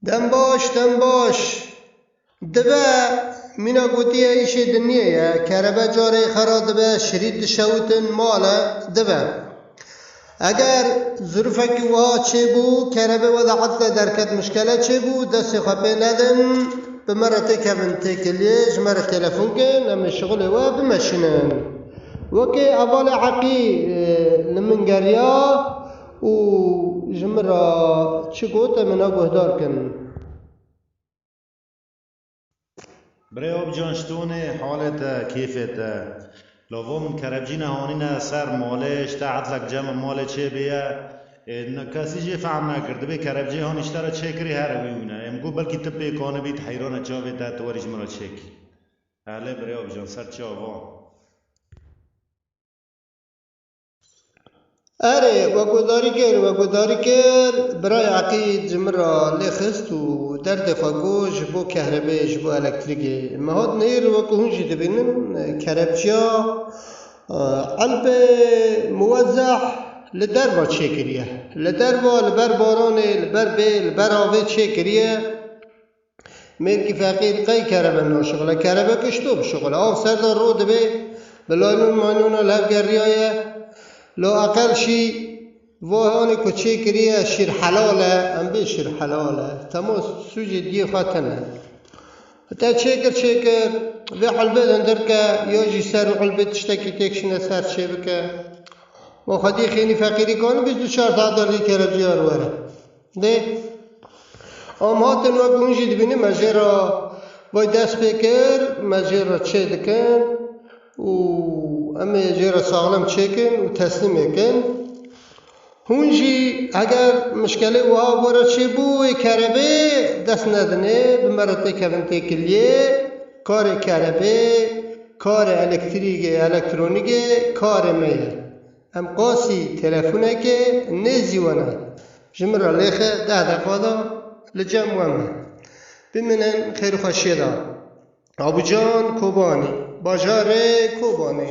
Dem baş, dem baş. Dibe, mîna gotiye îşê dinyê ye, kerebe carê xwe ra dibe, şirît dişewitin, mal e, dibe. Eger zirûfekî wiha çêbû, kerebe we de etla derket mişkele çêbû, destê xwe pê nedin, bi me re têkevin têkiliyê, ji me re telefon kin, em ê şixulê we bimeşinin. Wekê evalê Eqî li min geriya. Û ji min re çi got em ina guhdar kin. Birê Opcan ştonê halê te kêfê te. Lavo min kerebcîne hanîne ser malê ji te etlek cem in malê çê bêye. Ê na kesî jê fehm nekir. Dibê kerebcê hanî ji te re çêkirî here wî wî ne. Ê min got belkî tu pêkanî bî tu heyrane çavê te tu werî ji min re çêkî. Elê birê Opcan ser çi ava. Erê, wegudarî kir, wegudarî kir. Birayê Eqîd ji min re lê xist û derdê xwe got ji bo kehrebê, ji bo elektrîkê. Me hat neyîr wekû hûn jî dibînin kerebçiya Elpê Muwezzeh li derve çêkiriye. Li derve li ber baranê, li ber bê, li ber avê çêkiriye. Mêrkî feqîr qey kerebe naşixile, kerebe kişto bişixile. Av ser de ro dibe, bi laylon maylona li hev geriyaye. Lo eqel şî va hanê ku çê kiriye şîr helal e, em bê şîr helal e. Tema sûcê diyê xwe tine. Te çê kir çê kir, vê hulbê dindir ke ya jî ser hulbê tiştekî têk şine ser çê bike. Ma xwediyê xênî feqîrî kanibî du çar saetan rî kerebciyar were. Dê em hatin wek hûn jî dibînin me jê re vay dest pê kir, me jê re çê dikin û em ê jê re saxlem çêkin û teslîm ê kin. Hûn jî heger mişkelê wiha bo re çêbû wê kerebê dest nedinê bi me re têkevin têkiliyê, karê kerebê, karê elektrîgê, elektronîgê karê me ye. Em qasî telefonekê nêzîwana. Ji min re lêxe deh deqa da li cem we me. Bimînin xêr û xweşiyê de. Abucan Kobanî, bajarê Kobanê.